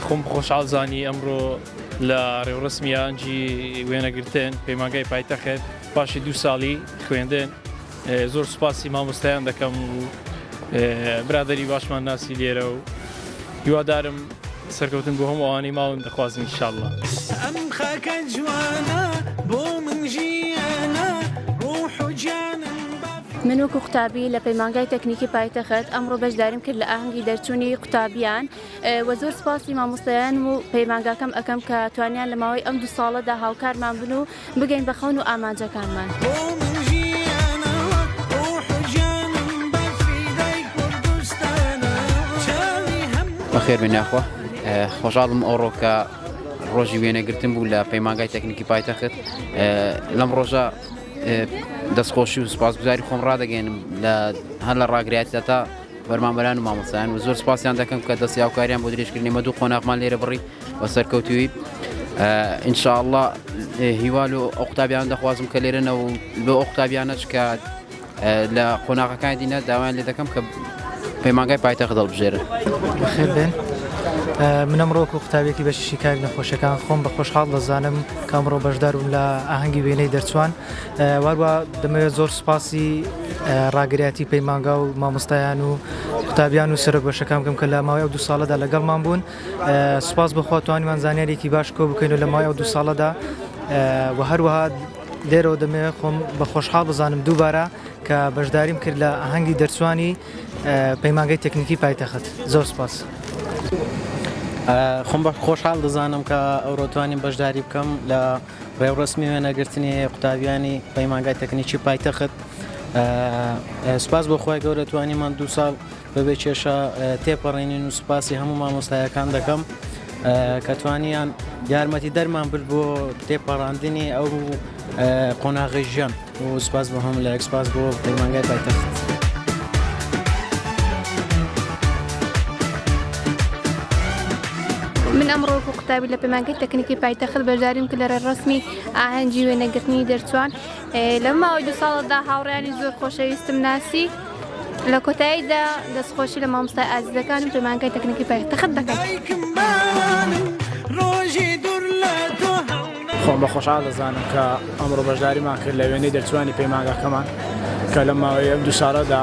خۆم خۆشحاڵ زانی ئەمڕۆ لە ڕێوڕسمی ئەنجی وێنەگرتن پەیمانگای پایتەخت پاشی دوو ساڵی خوێندن زۆر سوپاسی مامۆستایان دەکەم و برادەری باشمان ناسی لێرە و هیوادارم سەرکەوتن بۆ هەموو ئەوانەی ماون دەخوازم ان شاء اللە. ئەم خاکە جوانە بۆ من ژیانە ڕوح و گیانم بە فیداکەی. من وەکو قوتابی لە پەیمانگای تەکنیکی پایتەخت ئەمڕۆ بەشداریم کرد لە ئاهەنگی دەرچوونی قوتابیان وە زۆر سوپاسی مامۆستایانم و پەیمانگاکەم ئەکەم کە توانیان لە ماوەی ئەم دوو ساڵەدا هاوکارمان بن و بگەین بە خەون و ئامانجەکانمان. بەخێربێن یاخوا خۆشحاڵم ئەوڕۆ کە ڕۆژی وێنەگرتن بوو لە پەیمانگای تەکنیکی پایتەخت لەم ڕۆژە دەستخۆشی و سپاسگوزاری خۆم ڕدەگەێنم لە هەر لە ڕاگراتە تا بەرمامەران و مامۆسایان و زۆر سپاسیان دەکەم کە دەستی هاوکاریان بۆ درێژکردنی مە دوو قۆناغمان لێرە بڕی و سەرکەوتویت ان شاء اللە هیوا لۆ ئەو قوتابیان دەخوازم کە لێرە نەوە لۆ ئەو قوتابیانە چکات لە قۆناغەکانی دینا داوایان لێ دەکەم کە پەیمانگای پایتەخت دڵبژێرن خێر بێن منم ڕۆک و قوتابێکی بەشی شیکاری نەخۆشەکان خۆم بە خۆشحاڵ دەزانم کامڕۆ بەشداربووم لە ئاهەنگی وێنەی دەرچوان واروە دەمەوێت زۆر سوپاسی ڕاگرایەتی پەیمانگا و مامۆستایان و قوتابیان و سەرۆک بەشەکان بکەم کە لە ماوەی ئەو دو ساڵەدا لەگەڵمان بوون سوپاس بۆ خوا توانیمان زانیاریەکی باش کۆ بکەین و لە مای ئەو دو ساڵەدا و هەروەها لێرەوە دەمێ خۆم بە خۆشحاڵ بزانم دووبارە کە بەشداریم کرد لە ئاهەنگی دەرچوانی پەیمانگەی تەکنیکی پایتەخت زۆر سپاس. خۆم بە خۆشحاڵ دەزانم کە ئەوڕۆتوانین بەشداری بکەم لە ڕێوڕسمی وێنەگرتنی قوتابیانی پەیمانگای تەکنیکی پایتەخت سوپاس بۆ خخوای گەورەتوانیمان دو ساڵ بەبێ کێشە تێپەڕێنین و سوپاسی هەموو مامۆستایەکان دەکەم کە توانیان یارمەتی دەرمان برد بۆ تێپەڕاندنی ئەو قۆناغی ژیان و سوپاس بۆ هەموو لە ئەکسپاس بۆ پەیمانگای پایتەخت. من ئەمڕۆکو قوتابی لە پەیمانگەی تەکنیکی پایتەخت بەشداریم کە لە ڕێڕسمی ئاهەنگی وێنەگرتنی دەرچوان لەم ماوەی دوو ساڵەدا هاوڕێیانی زۆر خۆشەویستم ناسی لە کۆتاییدا دەستخۆشی لە مامۆستای ئازیزەکانم پەیمانگای تەکنیکی پایتەخت دەکەم. دایکم بەیانم ڕۆژی دوور لە تۆ هەڵنەگرم. خۆم بە خۆشحاڵ دەزانم کە ئەمڕۆ بەشداریمان کرد لە وێنەی دەرچووانی پەیمانگاکەمان کە لەم ماوەی ئەم دوو ساڵەدا،